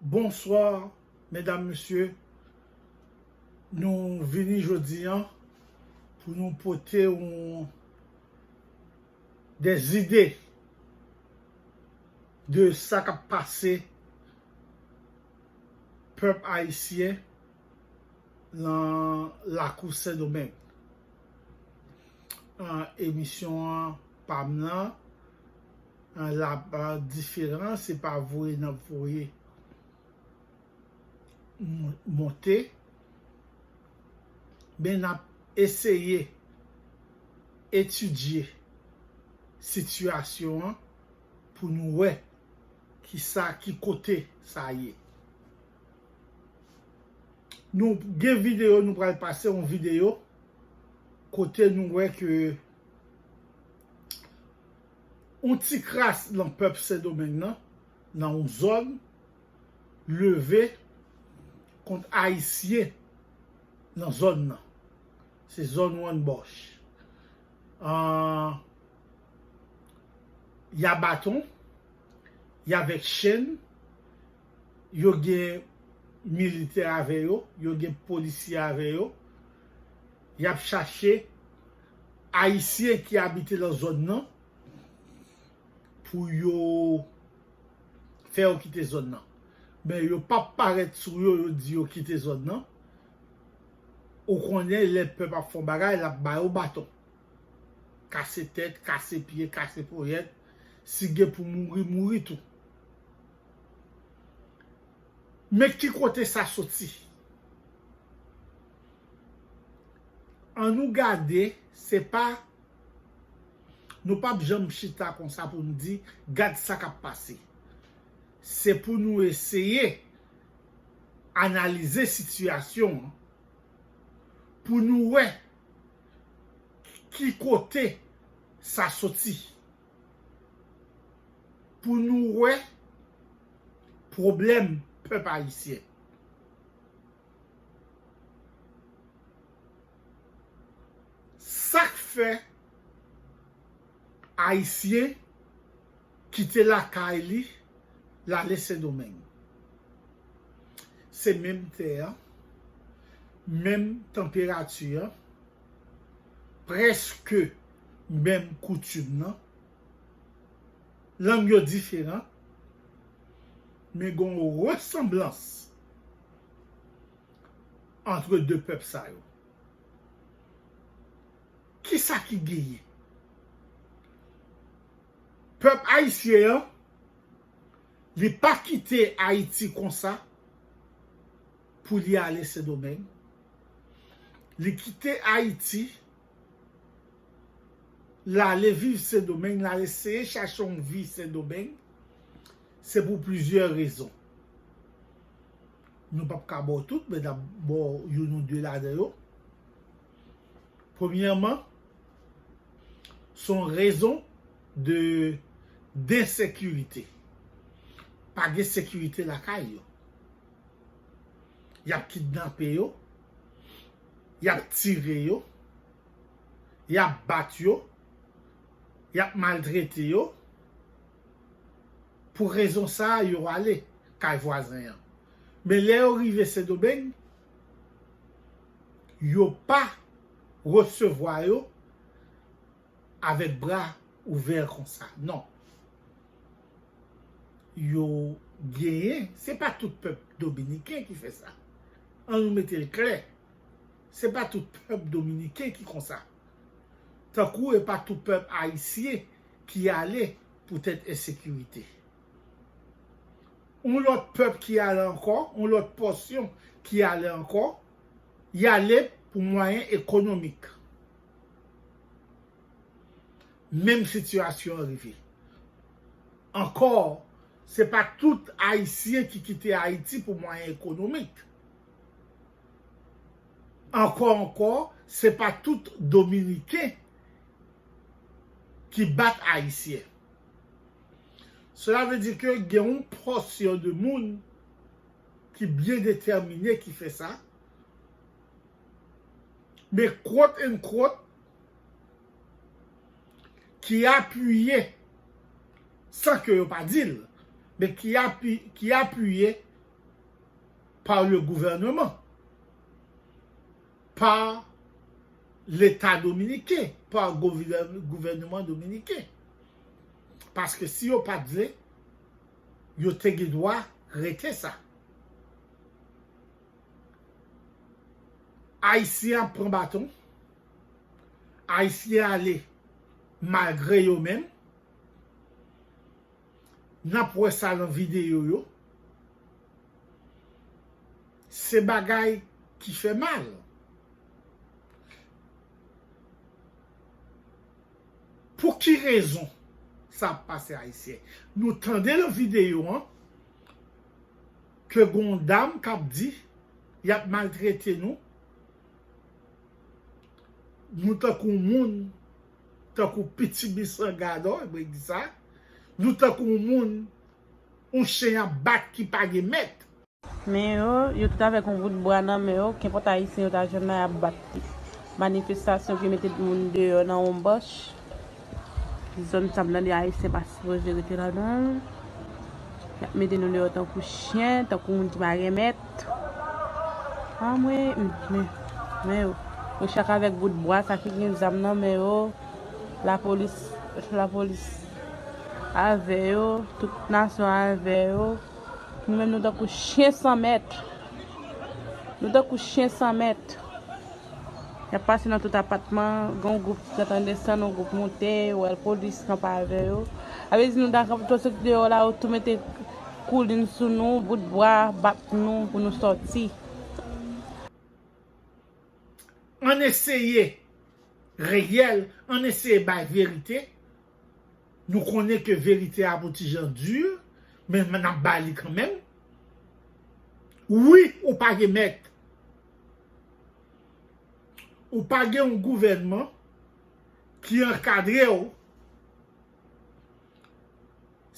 Bonsoir medam mesye nou vini jodi an pou nou pote yon de zide de sa kap pase pèp ayisyen lan lakou sendomeng emisyon an pam lan lap diferan se pa voye nap voye monte men nap eseye etidye sitiyasyon an pou nou wè ki sa ki kote sa ye nou gen videyo nou pral pase yon videyo kote nou wè ke yon ti kras nan pèp Sendomeng nan, nan yon zòn, leve kont Ayisyen nan zòn nan. Se zòn Wannbòch. Y a baton, y avèk chenn, yo gen militè avè yo, yo gen polisye avè yo, y ap chache. Ayisyen ki abite lan zòn nan pou yo fè yo kite zòn nan. Men yo pa p parèt sou yo, yo di yo kite zòn nan. Ou konnen lè pèp ap fè yon bagay, l ap ba yo baton. Kase tèt, kase pye, kase ponyèt. Si gen pou mouri, mouri tou. Men ki kote sa soti? An nou gade se pa nou pap janm chita konsa pou nou di gad sa kap pase se pou nou eseye analize sitiyasyon an pou nou wè ki kote sa soti pou nou wè pwoblèm pèp ayisyen. Sak fè ayisyen kite lakay li lale sendomeng? Se menm tè an, menm tanperati an, prèske menm koutim nan, lang yo diferan men gon resanblans. antre 2 pèp sa yo. Kisa ki genyen? Pèp ayisyen an, li pa kite Ayiti konsa pou li ale Sendomeng. Li kite Ayiti, l ale viv Sendomeng, l al eseye chache yon vi Sendomeng, se pou plizyè rezon. Nou pap ka ba w tout, men n ap ba w youn ou de ladan yo. Premyèman, se yon rezon de densekirite. Pa gen sekirite lakay yo. Y ap kidnape yo, y ap tire yo, y ap bat yo, y ap maltrete yo. Pou rezon sa a yo ale kay vwazen an. Men lè yo rive Sendomeng, yo pa resevwa yo avèk bra ouvè konsa. Non. Yo genyen, se pa tout pèp dominiken ki fè sa. An nou mete l klè. Se pa tout pèp dominiken ki konsa. Tankou e pa tout pèp ayisyen ki ale poutèt ensekirite. Yon lòt pèp ki ale ankò, yon lòt pòsyon ki ale ankò, y ale pou mwayen ekonomik. Menm sitiyasyon an rive. Ankò, se pa tout Ayisyen ki kite Ayiti pou mwayen ekonomik. Ankò ankò, se pa tout Dominiken. ki bat Ayisyen. Sela vle di ke gen yon pòsyon de moun ki byen detèmine ki fè sa, men quote and quote, ki apiye, san ke yo pa di l, men ki apiye pa le gouvèneman. pa leta dominiken, pa gouvèneman dominiken. Paske si yo pat vle, yo te gen dwa rete sa. Ayisyen ap pran baton, Ayisyen ale malgre yo menm, n ap wè sa lan videyo yo. Se bagay ki fè mal. Pou ki rezon sa ap pase ayisyen. Nou tande nan video an ke gon yon dam kap di yap maltrete nou. Nou tankou moun, tankou pitimi san gadò, mwen di sa. Nou tankou moun yon chen yap bat ki pa gen mèt. Men yo, yo tout avèk yon bout bwa nan men yo, kenpòt Ayisyen yo ta jwenn la y ap bat li. Manifestasyon ki mete moun deyò nan yon bòch, zòn sa m tande Ayisyen pa sipoze rete ladan l, y ap mete nou deyò tankou chyen, tankou moun ki pa gen mèt. Anmwey! Men yo, yo chak avèk bout bwa, sa ki gen zam nan men yo, lapolis, lapolis avè yo, tout nasyon avè yo. Nou menm nou tankou chyen san mèt. Nou tankou chyen san mèt. Y ap pase nan tout apatman, gen yon gwoup ki antann desann, yon gwoup monte, ou wè lpolis kanpe avè yo. A vle di nou ta kanpe twò soti deyò la, yo tou mete koulin sou nou, bout bra, bat nou pou nou soti. Ann eseye reyèl, ann eseye bay verite. Nou konnen ke verite a pou tijan dur men nap bay li kanmenm wi ou pa gen mèt ou pa gen yon gouvènman ki ankadre w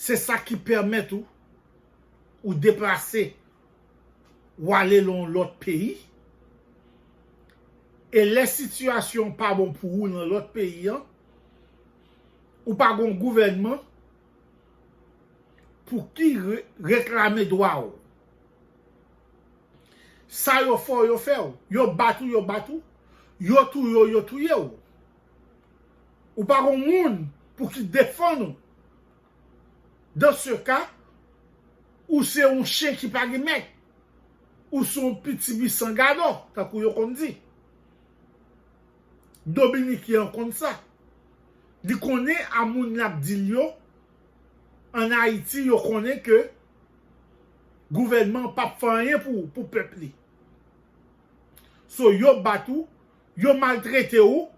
se sa ki pèmèt ou ou deplase ou ale lan yon lòt peyi e lè sitiyasyon pa bon pou ou lan lòt peyi an Ou pa gon gouvènman pou ki reklame dwa ou. Sa yo fè w yo fè w. Yo bat ou yo bat ou. Yo touye w yo touye w. Ou pa gon moun pou ki defann ou. Dan se ka, ou se yon chen ki pa gen mèt. Ou se yon pitimi san gadò, tankou yo konn di. Dominiken an konn sa. Li konnen a moun lap dil yo an ayiti yo konnen ke gouvènman pap fè anyen pou pèp li so yo bat ou yo maltrete ou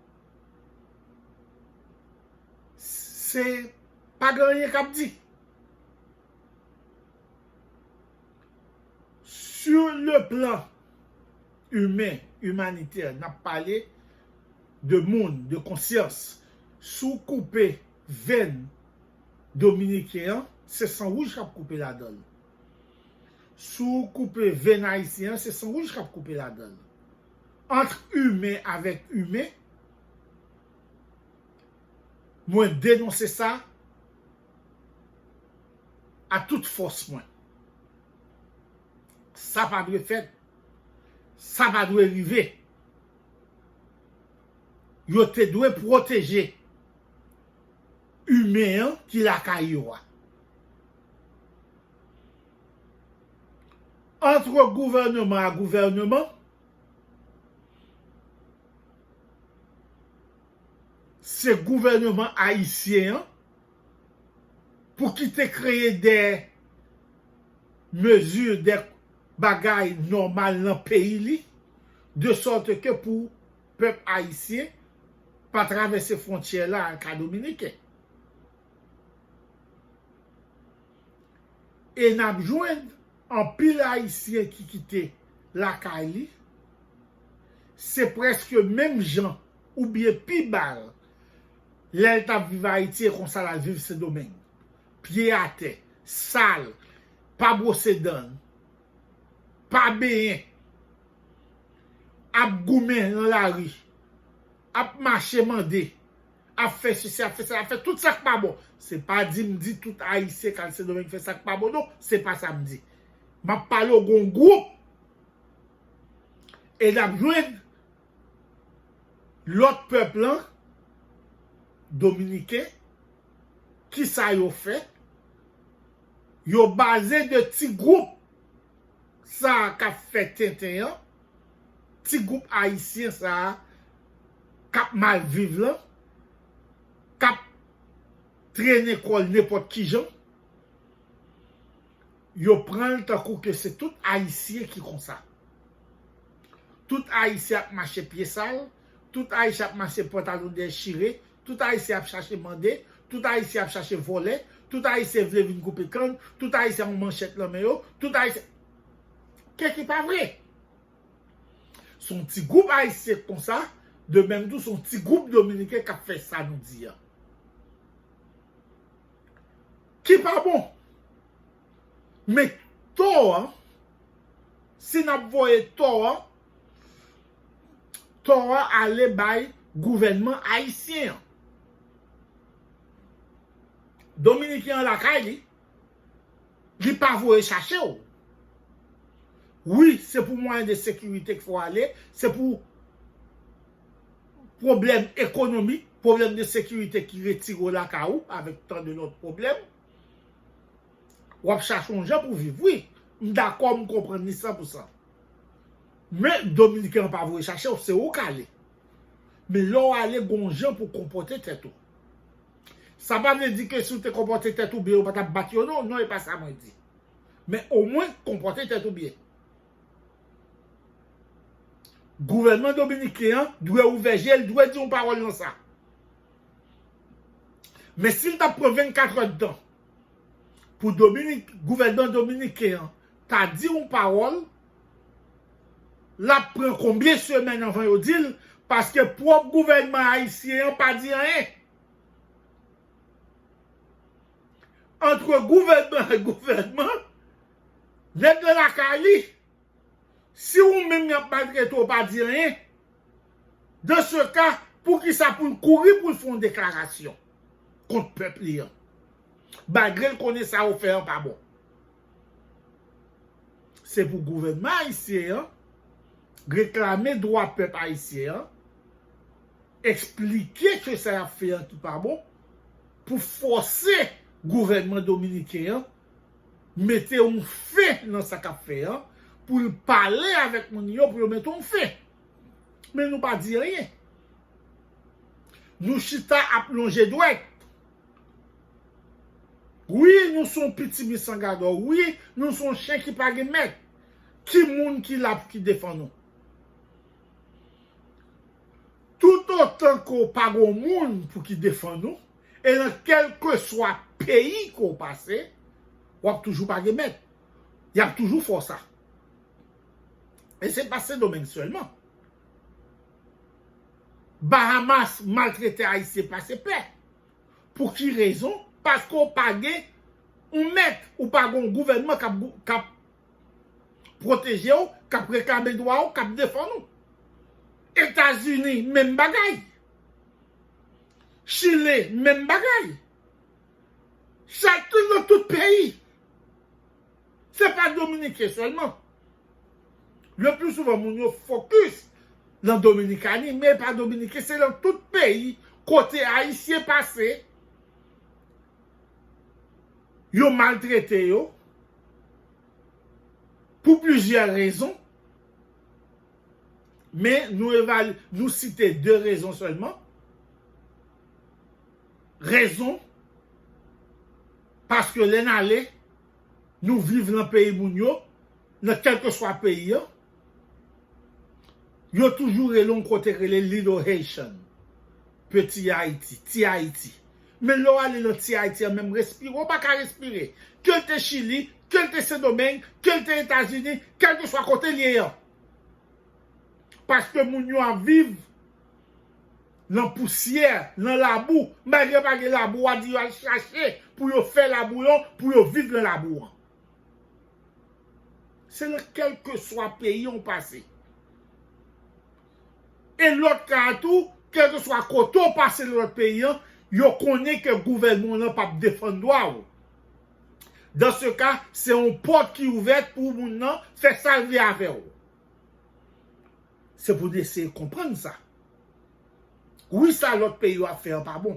se pa gen anyen kap di sur le plan. imen, imanitè, n ap pale de moun, de konsyans. Si w koupe venn dominiken an, se san wouj k ap koupe ladan l. Si w koupe venn ayisyen an, se san wouj k ap koupe ladan l. Antre imen avèk imen, mwen denonse sa a tout fòs mwen. Sa pa dwe fèt. Sa pa dwe rive. Yo te dwe pwoteje imen an ki lakay yo a. Antre gouvèneman a gouvèneman, se gouvèneman ayisyen an pou ki te kreye de. mezi dè bagay nòmal nan peyi li, de sòt ke pou pèp ayisyen pa travèse fwontyè la al ka dominiken. E n ap jwenn anpil ayisyen ki kite lakay li, se prèske menm jan oubyen pi bal lè l t ap viv Ayiti e konsa l al viv Sendomeng. pye atè, sal, pa bwose dan, pa benyen, ap goumen nan lari, ap mache mande, ap fè sesi, ap fè sela, ap fè tout sa k pa bon. Se pa di m di tout Ayisyen k al Sendomeng fè sa k pa bon non, se pa sa m di. M ap pale w gon gwoup e n ap jwenn Lot pèp lan dominiken kisa yo fè yo baze de ti group sa kap fè tenten an ti group ayisyen sa kap mal viv lan kap trennen kòl nenpòt kijan. Yo pranl tankou ke se tout ayisyen ki konsa. Tout ayisyen ap mache pye sal, tout ayisyen ap mache pantalon dèyè chire, tout ayisyen ap chache mande, tout ayisyen ap chache vòlè, tout ayisyen vle vin koupe kann, tout ayisyen yon manchèt lan men yo, tout ayisyen Kè ki pa vre! Se yon ti gwoup ayisyen k konsa, de menm tou se yon ti gwoup dominiken k ap fè sa nou di an. ki pa bon. Men tò an, si n ap voye tò an, tò a ale bay gouvènman ayisyen an. Dominiken an lakay li, li pa voye chache w. Wi, se pou mwayen de sekirite k fè w ale, se pou. pwoblèm ekonomik, pwoblèm de sekirite ki retire w lakay ou avèk tan de lòt pwoblèm. W ap chache yon jan pou viv. Wi, m dakò, m konprann li san pou san. Men, Dominiken an pa voye chache w, se ou k ale. Men lè w ale, gen yon jan pou w konpòte tèt ou. Sa pa vle di ke si w te konpòte tèt ou byen, yo pa t ap bat yo non. Non, e pa sa mwen di. Men omwen, konpòte tèt ou byen. Gouvènman dominiken an dwe ouvè je l, dwe di yon pawòl nan sa. Men si l t ap pran 24 èd tan pou gouvènman dominiken an ta di yon pawòl, l ap pran konbyen semèn anvan yo di l paske pwòp gouvènman ayisyen an pa di anyen. Antre gouvènman ak gouvènman. Nèg lan lakay li, si ou menm yap maltrete ou pa di anyen, dans ce cas poukisa poul kouri poul fè yon deklarasyon kont pèp li an, malgrel konnen sa ou fè an pa bon. Se pou gouvènman ayisyen an reklame dwa pèp ayisyen an, eksplike ke sa yap fè an ki pa bon, pou fòse gouvènman dominiken an Mete yon fen nan sa kap fè an pou l pale avèk moun yo pou yo mete yon fen. Men nou pa di anyen. Nou chita ap lonje dwèt. Wi nou son pitimi san gadò. Wi nou son chen ki pa gen mèt. Ki moun ki la pou ki defann nou? Toutotan ke w pa gon moun pou ki defann ou, e nan kèlkeswa peyi ke w pase, w ap toujou pa gen mèt. Y ap toujou fè w sa. E se pa Sendomeng sèlman. Bahamas maltrete Ayisyen pase pè. Pou ki rezon? Paske w pa gen yon mèt. Ou pa gen yon gouvènman k ap pwoteje w, k ap reklame dwa w, k ap defann ou. Etazini menm bagay. Chile menm bagay. Chakun nan tout peyi. Se pa Dominiken sèlman. Le pli souvan moun yo fokis nan Dominikani men pa Dominiken se nan tout peyi kote Ayisyen pase yo maltrete yo. Pou plizyè rezon, men nou site 2 rezon sèlman, rezon paske lè n ale nou viv nan peyi moun yo, nan kèlkeswa peyi an, Yo toujou rele yon kote k rele Little Haitian, Peti Ayiti, Ti Ayiti. Men lè w ale nan Ti Ayiti an menm respire w pa ka respire. Ke l te Chili, ke l te Sendomeng, ke l te Etazini, kèlkeswa kote l ye an. Paske moun yo ap viv nan pousyè, nan labou. Malgre pa gen labou, w a di yo al chache pou yo fè labou yo, pou yo viv nan labou an. Se nan kèlkeswa peyi ou pase. E lòt ka a tou, kèlkeswa kote ou pase nan lòt peyi an, yo konnen ke gouvènman w lan p ap defann dwa ou. Dans se ka, se yon pòt ki ouvèt pou moun nan fè sa l vle avè w. Se pou nou eseye konprann sa. Wi sa lòt peyi yo ap fè an pa bon.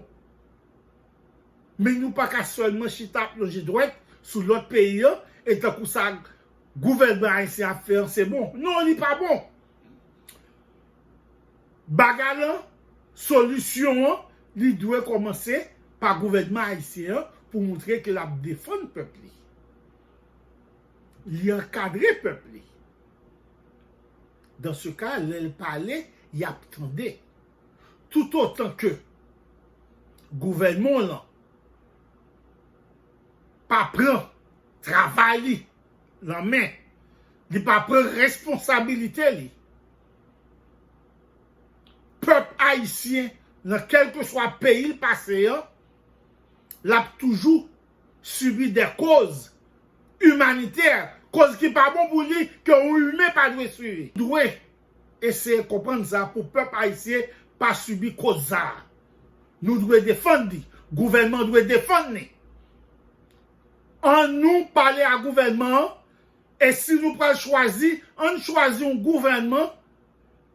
Men nou pa ka sèlman chita ap lonje dwèt sou lòt peyi an e tankou sa gouvènman ayisyen ap fè an se bon. Non li pa bon. Bagay lan, solisyon an li dwe kòmanse pa gouvènman ayisyen an pou moutre ke l ap defann pèp li. Li ankadre pèp li. Dans ce cas lè l pale y ap tande. Toutotan ke gouvènman w lan pa pran travay li nan men, li pa pran responsabilite li, pèp ayisyen nan kèlkeswa peyi l pase an, l ap toujou sibi dè koz imanitè, koz ki pa bon pou li, ke yon imen pa dwe sibi. Eseye konprann sa pou pèp ayisyen pa sibi koz sa. Nou dwe defann li. Gouvènman an dwe defann li. An nou pale a gouvènman an e si nou pral chwazi, an n chwazi yon gouvènman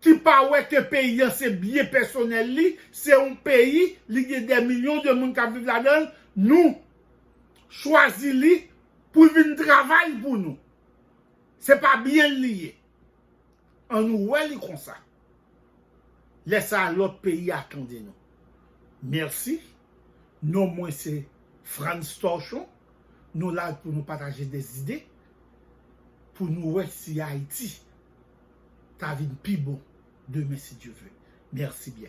ki pa wè ke peyi an se byen pèsonèl li, se yon peyi, li gen dè milyon de moun k ap viv ladan l, nou chwazi li pou l vin travay pou nou. Se pa byen l li ye. An nou wè li konsa. Lè sa a lòt peyi a tande nou. Mèsi. Non mwen se Frantz Torchon. Nou la pou nou pataje de zide. Pou nou wè si Ayiti ta vin pi bon demen si Dye ve. Mèsi byen.